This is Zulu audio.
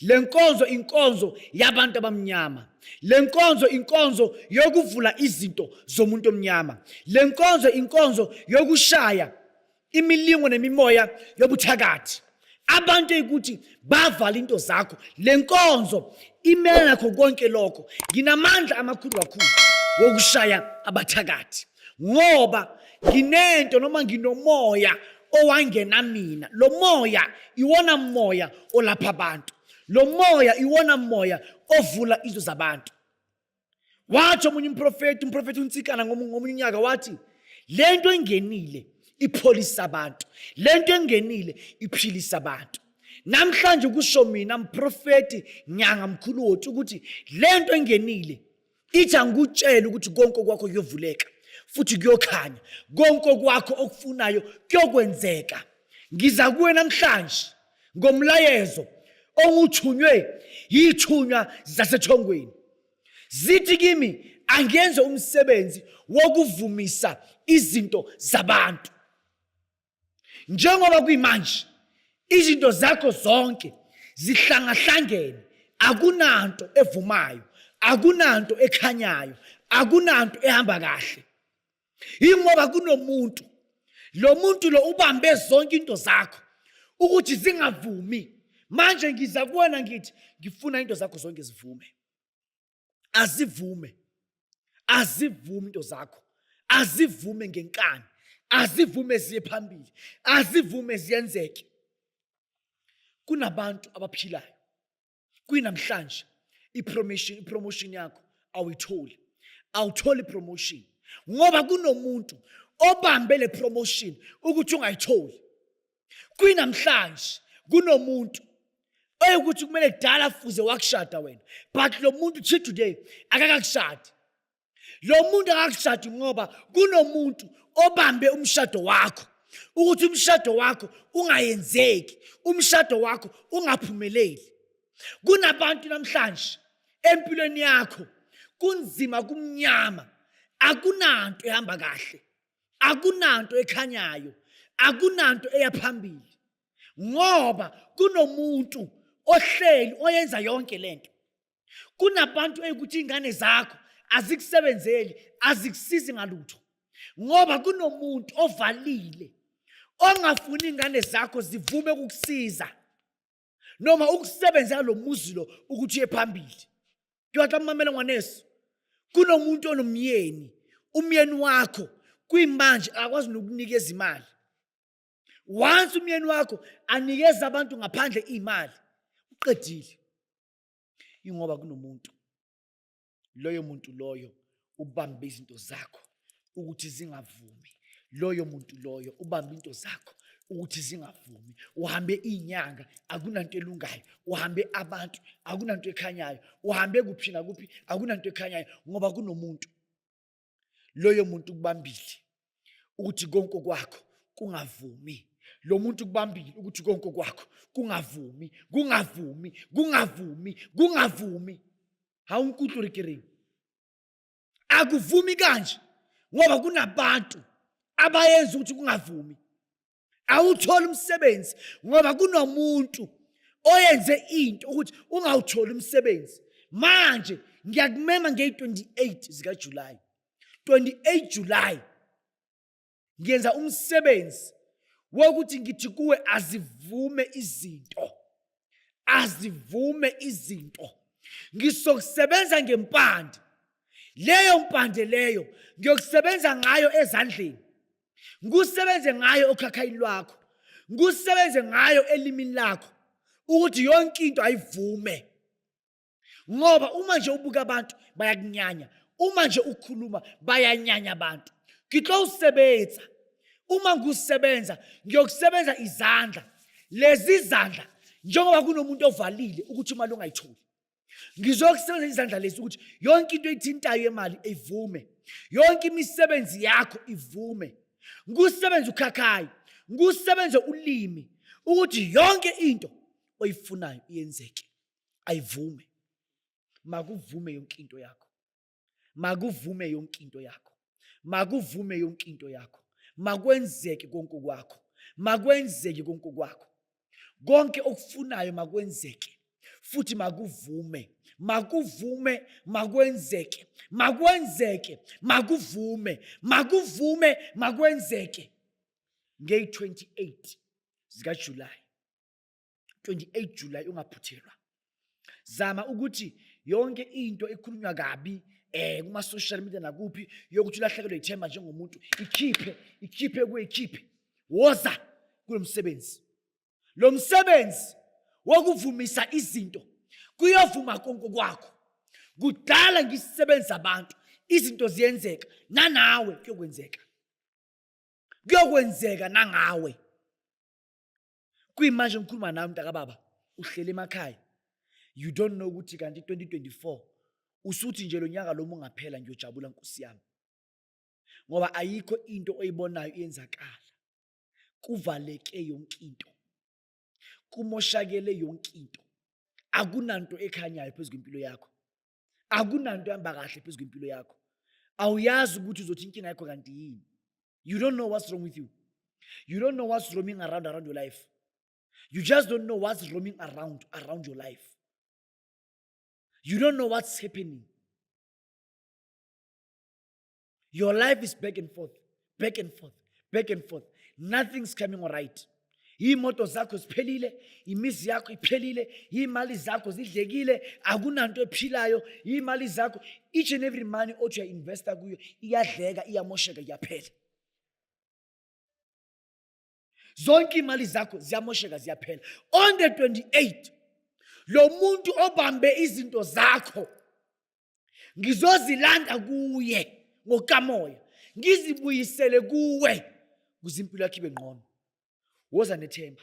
Le nkonzo inkonzo yabantu abamnyama. Le nkonzo inkonzo yokuvula izinto zomuntu omnyama. Le nkonzo inkonzo yokushaya imilingo nemimoya yobuthakathi. Abantu ekuthi bavala into zakho. Le nkonzo imele nakho konke lokho. Nginamandla amakhulu kakhulu wokushaya abathakathi. ngoba nginento noma nginomoya owangena mina lo moya iwona moya olapha abantu lo moya iwona moya ovula izo zabantu wathi omunye umprofeti umprofeti untsikana ngomunye unyaka wathi le nto engenile ipholisa abantu le nto engenile iphilisa abantu namhlanje kusho mina mprofeti nyanga mkhulu wothi ukuthi le nto engenile ithi angikutshele ukuthi konke okwakho kuyovuleka futhi kuyokhanya konke okwakho okufunayo kuyokwenzeka ngiza kuwe namhlanje ngomlayezo onguthunywe yithunywa zasethongweni zithi kimi angenze umsebenzi wokuvumisa izinto zabantu njengoba kuyimanje izinto zakho zonke zihlangahlangene akunanto evumayo akunanto ekhanyayo akunanto ehamba kahle yingoba kunomuntu lo muntu lo ubambe zonke into zakho ukuthi zingavumi manje ngiza kuwena ngithi ngifuna into zakho zonke zivume azivume azivume into zakho azivume ngenkani azivume ziye phambili azivume ziyenzeke kunabantu abaphilayo kwinamhlanje ipromotion ipromotion yakho awuyitholi awutholi promotion ngoba kunomuntu obambe le promotion ukuthi ungayitholi kwinamhlanje kunomuntu oyekuthi kumele kudala fuze wakushada wena but lo muntu till today akakakushadi lo muntu akakushadi ngoba kunomuntu obambe umshado wakho ukuthi umshado wakho ungayenzeki umshado wakho ungaphumeleli kunabantu namhlanje empilweni yakho kunzima kumnyama akunanto ehamba kahle akunanto ekhanyayo akunanto eyaphambili ngoba kunomuntu ohleli oyenza yonke lento kunabantu ekuthi ingane zakho azikusebenzeli azikusizi ngalutho ngoba kunomuntu ovalile ongafuni ingane zakho zivume ukukusiza noma ukusebenzela lo muzi lo ukuthi uye phambili kuyatla mamela ngwaneso kunomuntu onomyeni umyeni wakho kuyimanje akwazi nokunikeza imali once umyeni wakho anikeza abantu ngaphandle imali uqedile ingoba kunomuntu loyo muntu loyo ubambe izinto zakho ukuthi zingavumi loyo muntu loyo ubambe into zakho ukuthi zingavumi uhambe inyanga akunanto elungayo uhambe abantu akunanto ekhanyayo uhambe kuphi nakuphi akunanto ekhanyayo ngoba kunomuntu loyo muntu kubambile ukuthi konke kwakho kungavumi lo muntu kubambile ukuthi konke kwakho kungavumi kungavumi kungavumi kungavumi hawu unkulunkulu rikiringi akuvumi kanje ngoba kunabantu abayenza ukuthi kungavumi awutholi umsebenzi ngoba kunomuntu oyenze into ukuthi ungawutholi umsebenzi manje ngiyakumema ngeyi-28 zikajulayi 28 julayi ngiyenza umsebenzi wokuthi ngithi kuwe azivume izinto azivume izinto ngizokusebenza ngempande leyo mpande leyo ngiyokusebenza ngayo ezandleni ngikusebenze ngayo okhakhayini lwakho ngikusebenze ngayo elimini lakho ukuthi yonke into ayivume ngoba uma nje ubuka abantu bayakunyanya uma nje ukhuluma bayanyanya abantu ngitlo usebenza uma ngusebenza ngiyokusebenza izandla lezi zandla njengoba kunomuntu ovalile ukuthi imali ungayitholi ngizokusebenzisa izandla lezi ukuthi yonke into ethintayo yemali ivume yonke imisebenzi yakho ivume ngusebenza ukhakhayi ngusebenze ulimi ukuthi yonke into oyifunayo iyenzeke ayivume makuvume yonke into yakho makuvume yonke into yakho makuvume yonke into yakho makwenzeke konke kwakho makwenzeke konke kwakho konke okufunayo makwenzeke futhi makuvume makuvume makwenzeke makwenzeke makuvume makuvume makwenzeke ngeyi-28 zikajulayi 28 July ungaphuthelwa zama ukuthi yonke into ekhulunywa kabi eh kuma social media nakuphi yokuthi ulahlekelwe ithemba njengomuntu ikhiphe ikhiphe kuyikhiphe woza kulomsebenzi lo msebenzi wokuvumisa izinto kuyovuma konke kwakho kudala ngisebenza abantu izinto ziyenzeka nanawe kuyokwenzeka kuyokwenzeka nangawe kuyimanje ngikhuluma nawe mntakababa uhlele emakhaya you don't know ukuthi kanti 2024 usuthi nje lo nyaka lo mungaphela ngiyojabula nkosi yami ngoba ayikho into oyibonayo iyenzakala kuvaleke yonke into kumoshakele yonke into akunanto ekhanyayo phezu kwempilo yakho akunanto ehamba kahle phezu kwempilo yakho awuyazi ukuthi uzothi inkinga yakho kanti yini you don't know what's wrong with you you don't know what's roaming around around your life you just don't know what's roaming around around your life you don't know what's happening Your life is back and forth, back and forth, back and forth. Nothing's coming all right. iy'moto zakho ziphelile imizi yakho iphelile iy'mali zakho zidlekile akunanto ephilayo iy'mali zakho each and every money othi uyainvesta kuyo iyadleka iyamosheka iyaphela zonke imali zakho ziyamosheka ziyaphela on the 28 lo muntu obambe izinto zakho ngizozilanda kuye ngokamoya ngizibuyisele kuwe kuze impilo yakhe ibe ngqono woza nethemba